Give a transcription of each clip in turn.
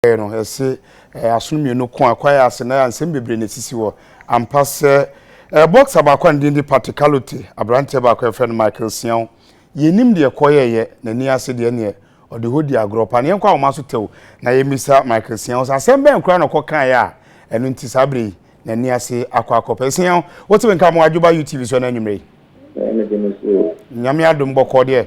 yɛɛ no, yɛse ɛyɛ asono mmienu ko a kwaeɛ ase na nsɛm bebree na ɛsisi hɔ ampa sɛ ɛɛ boxer baako a ne din de Pate Kalote, aberanteɛ baako a yɛfrɛ no Michael Siaw, yɛnnim deɛ ɛkɔyɛeɛ, n'ani ase deɛ neɛ ɔde hɔ di agorɔ paa. Na yɛnkɔ ahoma so tɛw na yɛmmisa Michael Siaw sɛ asɛm bɛn koraa na ɔkɔkaeɛ a ɛno nti saa berɛ yi n'ani ase akɔ akɔpɛ. Siaw, wote me nka mo adwoba UTV so ɛna anwummerɛ yi? Nyame adom bɔkɔɔ deɛ.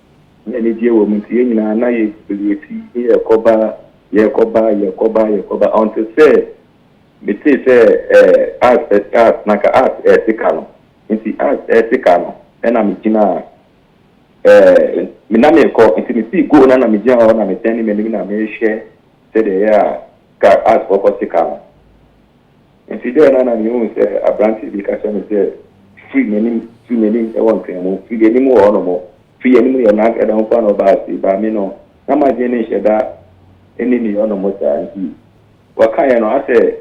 na anigyeɛ wɔ mu nti yɛn nyinaa na yɛ biriwati ne yɛrekɔba, yɛrekɔba, yɛrekɔba, yɛrekɔba until sɛ metee sɛ ɛɛ as ɛ car na nka as ɛrete ka no nti as ɛrete ka no ɛna megyinaa ɛɛ me na merekɔ nti mesii go na na megyina hɔ na medɛne m'anim na mehwɛ sɛdeɛ ɛyɛ a ka as kɔkɔ te ka no. Enti dɛn na na mihu sɛ aberante bi ka kyerɛ me sɛ, Firi n'anim, tu n'anim wɔ nkramu, firi anim wɔ hɔnom, firi anim yɛ n'ag ɛda ho paa na ɔbaa ase? Baa me no, na m'adwene no nhyɛ da nni me hɔnom saa, enti wɔkaeɛ no ara sɛ,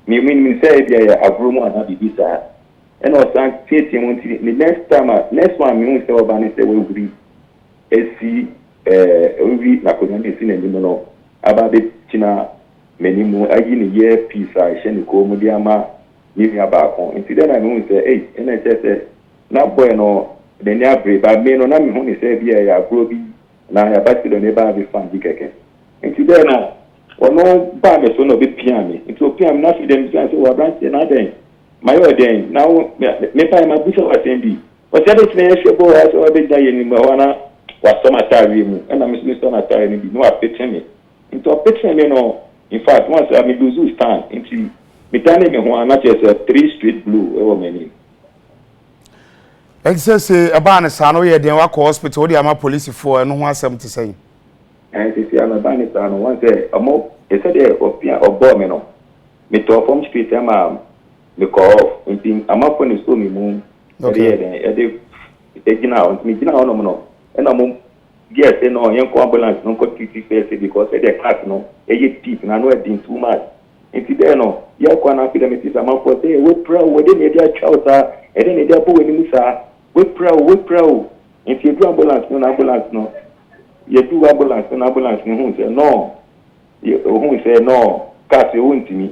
Me, menim sɛ ebia ɛyɛ agorɔ mu anaa biribi saa. Ɛnna ɔsan teateaam nti the next time a, next one a mehuu sɛ ɔba ne sɛ wahuri asi ɛɛ, wahuri n'akonnwa no asi n'anim no aba abɛgyina M'ani mu ayi ne ear piece a ɛhyɛ ne kɔn mu de ama ne nua baako nti dɛn na mehu no sɛ ei ɛna ɛkyerɛ sɛ na boy no n'ani abere but me no na mehu no sɛ ebia ɛyɛ agorɔ bi anaa ɛyɛ abati dɔ na ɛbaa bi fine bi kɛkɛ nti dɛn na ɔno baa me so na ɔbɛ pia me nti ɔpia me na afei deɛ mebisa no sɛ wɔ abranteɛ na adɛn mayɛ ɔdɛn na wo me bae ma busa w'asɛm bi ɔsɛ adɛn nti na yɛhwɛ bɔɔ asɛ wabɛgyina yɛ anim hɔ na wasɔ m'ataareɛ mu ɛna me nso mesɔ n'ataareɛ no bi na wapete me Ntsi ɔpetsee me no, in fact ɔann sɛ me loose stand ntsi me danee me ho a na kyerɛ sɛ three straight blow wɔ m'enyim. Ntsi sɛ se ebaa no saa no eyɛ dɛn wakɔ hospital wode ama polisifo a ɛno ho asɛm te sɛn? Ɛɛ sesei a no ɛbaa no saa no ɔann sɛ ɔmo sɛdeɛ ɔpia ɔbɔɔ me no me tɔɔ fɔm straight ɛma me kɔɔ off ntsi amafo na esoo me mu yɛde yɛɛ dɛn yɛde gyinaa hɔ ntsi me gyinaa hɔ nom no ɛna ɔmo Girl say no yɛnkɔ ambulance no nkɔ treat first because ɛdeɛ cut no ɛyɛ deep na ano ɛden too much nti dɛn no yɛkɔ ana afei deɛ mete sɛ amanfoɔ sɛ wapira o ɛdeɛ na yɛde atwa wo saa ɛdeɛ na yɛde abɔ w'anim saa wapira o wapira o nti yɛduru ambulance no na ambulance no yɛduru ambulance no na ambulance no huu sɛ no ohuu sɛ no car sɛ ɔntumi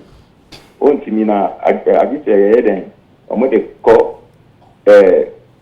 ɔntumi na agye sɛ yɛyɛ dɛn wɔn de kɔ ɛɛ.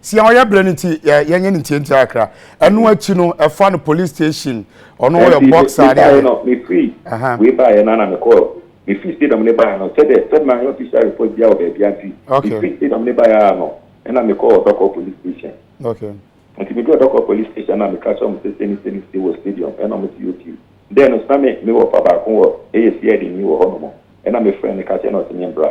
sia ɔyɛ berɛ no nti yɛnyɛ no ntiantia akra ɛno akyi no ɛfa no police station ɔno ɔyɛ box adeɛ no mefiri wei baeɛ no ana mekɔɔ mefiri stadium no baeɛ no sɛdeɛ sɛdeɛ ma yɛ official report biara wɔ baabia nti mefiri stadium no baeɛ a no ɛna mekɔɔ dɔkɔ police station okay nti meduru dɔkɔ police station na meka kyerɛ mo sɛ sɛni sɛni si wɔ stadium ɛna mo si okay dɛn no sɛ me mewɔ fa baako wɔ ɛyɛ si ɛde ni wɔ hɔ no mo ɛna mefrɛ no ka kyerɛ no ɔsɛ me mbra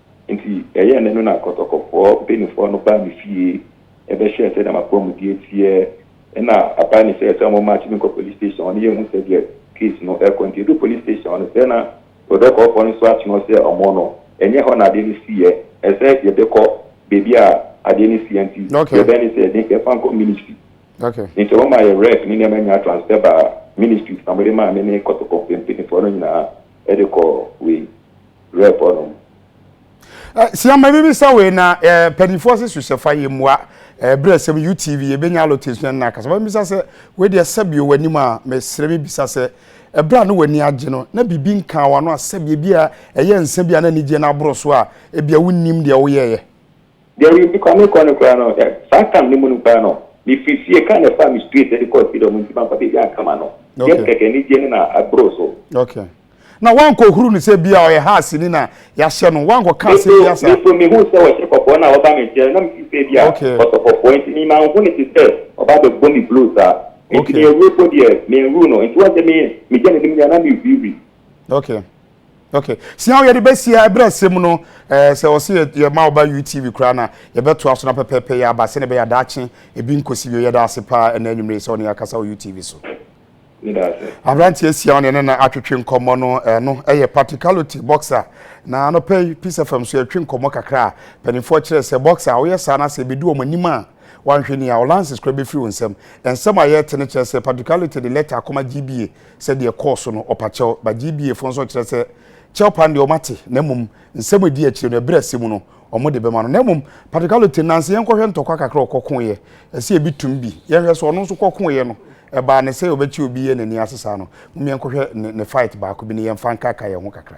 Enti ɛyɛɛ nnɛ no na akɔtɔkɔfoɔ mpanimfoɔ no baa me fie bɛhwɛɛ sɛdeɛ m'apɔmuden teɛ, ɛnna abae me sɛ sɛ wɔmmakye me nkɔ police station hɔ na yɛnhu sɛdeɛ case no rekɔ. Enti yɛduu police station hɔ no, sɛ na prɔdɔkɔɔfoɔ no nso akyene hɔ sɛ wɔn no, ɛnyɛ hɔ na adeɛ no siiɛ, ɛsɛ yɛbɛkɔ baabi a adeɛ no siiɛ nti, deɛ ɛbɛyɛ ne sɛ yɛde yɛfa nkɔ ministry. Enti wɔmaa yɛn rec ne nneɛma nyinaa transfer baa ministry na wɔde maa me ne kɔtɔkɔfoɔ mpanimfoɔ no nyinaa de kɔɔ wei. Rep hɔ nom. Sua ma bibi sa wei na panifoɔ se su sɛ fa yɛ mua berɛ sɛm UTV yɛ bɛnya alote sua nna akasa ma bisa sɛ wei deɛ sɛbio wanim a me sere me bisa sɛ ɛberɛ a ne wani agye no na bibi nkaa wano a sɛbio bi a ɛyɛ nsa bi a na anigyeɛ no aboro so a ebia wonim deɛ woyɛɛ Deɛ me nni kwan mekɔ no koraa no, saa tam no mu no koraa no, mefiri fie, kaa na ɛfaa me straight ɛde kɔɔ stadium nti mamfa baabi anka m'ano. Deɛ no kɛkɛ, anigyeɛ no na ɛboro so. Okay. Na woankɔhuru no sɛ bia ɔyɛ Haasni na yɛahyɛ no, woankɔka asɛm bia saa? Me nso mehuu sɛ wɔhyɛ kɔkɔɔ no a ɔba me nkyɛn no, na mefiri sɛ bia ɔsɔ kɔkɔɔ nti me manhu no te sɛ ɔba abɛbɔ me blow saa. Nti me awuo mpo deɛ, menwuu no. Nti woahu sɛ me, megya n'anim nyinaa na mehuihui. Okay. Ok siaw yɛde bɛsia ɛberɛ ɛsɛ mu no ɛɛ sɛ ɔsi yɛ yɛ ma ɔba UTV koraa na yɛbɛto aso na pɛpɛɛpɛ yɛ aba sɛ ne bɛyɛ adaakye ebi nkosi bio yɛda ase paa ɛna enyimire sɛ ɔne akasa wɔ UTV so. Abranteɛ siaw ne ne na atwetwe nkɔmɔ no ɛno ɛyɛ practicality boxer na anɔpɛ yi Peace FM so yɛtwe nkɔmɔ kakra a mpanimfoɔ kyerɛ sɛ boxer a woyɛ saa na sɛ ebedu wɔn anim a wanhwɛ ni a ɔlances koraa bɛfiri wɔn nsam ɛnsɛm a yɛte ne kyerɛ sɛ practicality de letter akoma GBA sɛ deɛ ɛkɔɔ so no ɔpa kyɛw, but GBA foɔ nso kyerɛ sɛ kyɛw pa no deɛ wɔate, na mmom nsɛm a ɛdi akyire no, ɛberɛ a ɛsɛ mu no, wɔde bɛma no. Na mmom Patrick Aloteng, nanse yɛnkɔhwɛ ntɔkwa kakra a ɔkɔkoeɛ, ɛsɛ yɛbi tom bi, yɛnhwɛ sɛ ɔno nso kɔkoeɛ no, ɛbaa ne sɛ ɔbɛkye obi yɛ n'ani ase saa no. Mom yɛnkɔhwɛ ne ne fight baako bi na yɛmfa nkaka yɛn ho kakra.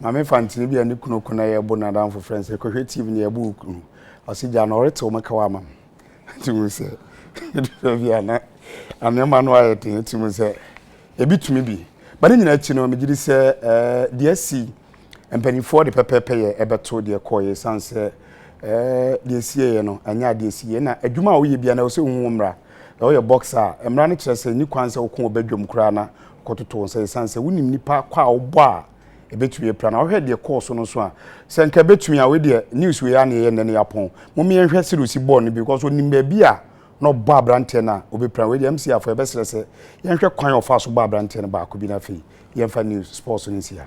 Maame Fantini bi a ne kunu ko na yɛ bo n'adamfo frɛ no sɛ kɔhwɛ TV na yɛbɔ wo kunu. Ɔse gya no ɔretew me kaw ama me. Nti mu sɛ ɛdura bi a na nneɛma no ayɛ den nti mu sɛ ebi tumi bi. Ba ne nyinaa akyi no megye di sɛ ɛɛ deɛ asi Mpanimfoɔ de pɛpɛɛpɛyɛ ɛbɛto deɛ ɛkɔeɛ ɛsiane sɛ ɛɛ deɛ ɛsieeɛ no ɛnyɛ adeɛ ɛsieeɛ na adwuma a woyɛ bia na ɛwɔ sɛ wohu mmara na woyɛ boxer a mmara no kyerɛ sɛ nni kwan sɛ woko wɔ badwam koraa na kɔtoto wo nsa ɛsiane sɛ wonim nipa kɔ a wobɔ a ɛbɛtumi apira na wohwɛ deɛ kɔɔ so no so a sɛ nka ɛbɛtumi a wei deɛ news wei a na ɛyɛ nnɛ no yɛapɔn momeɛ nhwɛ sɛ de osi bɔɔl no bi because onim baabi a na ɔbɔ aberanteɛ no a ɔbɛpira wei deɛ MC afɔ yɛbɛsrɛ sɛ yɛnhwɛ kwan a ɔfa so bɔ aberanteɛ no baako bi no afei yɛmfa news sports no nsi ha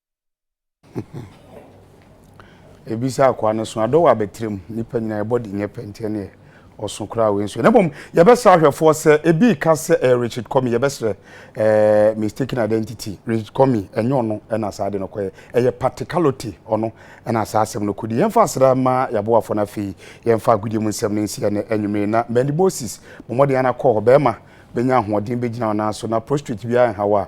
ebi sɛ akoa no so adɔ wɔ abɛtire mu nipa nyinaa yɛbɔ de nyɛ pɛ nti ɛneɛ ɔso koraa wei nso yɛ na mmom yɛbɛsrɛ ahwɛfoɔ sɛ ebi ka sɛ ɛyɛ eh, richard kɔmi yɛbɛsrɛ ɛɛ eh, mistaken identity richard kɔmi ɛnyɛ ɔno ɛna saa de no kɔyɛ ɛyɛ particularity ɔno ɛna saa asɛm no kɔdi yɛmfa asra ma yɛaboafoɔ no afei yɛmfa agodie mu nsɛm no nsi ɛnɛ anwummere na mɛni moses mo mmɔden anakɔ hɔ bɛrima bɛnya ahoɔden bɛgyina ɔnan so na prostrate biara nhaw a